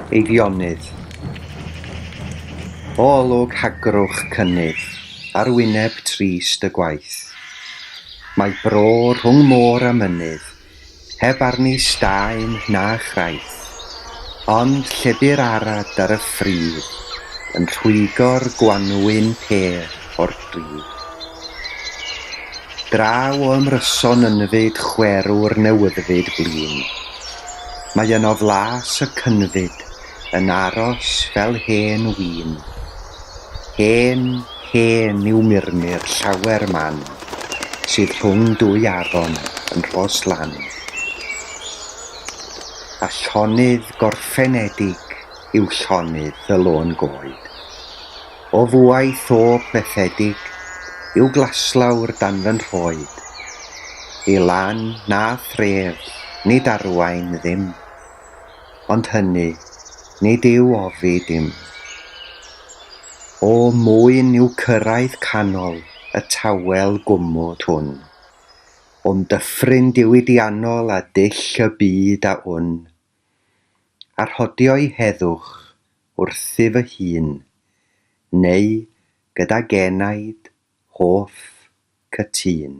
Eifionydd. O olwg hagrwch cynnydd. ar wyneb trist y gwaith. Mae bro rhwng môr a mynydd, heb arni staen na chraith, ond llebu'r arad ar y ffridd yn rhwygo'r gwanwyn pêr o'r pridd. Draw o ymryson ynfyd chwerw'r newyddfyd blin. Mae yno flas y cynfyd yn aros fel hen win. Hen, hen yw murmur llawer man, sydd rhwng dwy afon yn Rhoslan. A llonydd gorffenedig yw llonydd y lôn goed. O fuaeth o bethedig yw glaslawr dan fy nhroed. I lan na thref nid arwain ddim. Ond hynny, nid yw ofi dim. O mwyn i'w cyrraedd canol y tawel gwmwd hwn, o'm dyffryn diwydiannol a dull y byd a wn, a rhodio'i heddwch wrthi fy hun, neu gydag enaid hoff cytûn.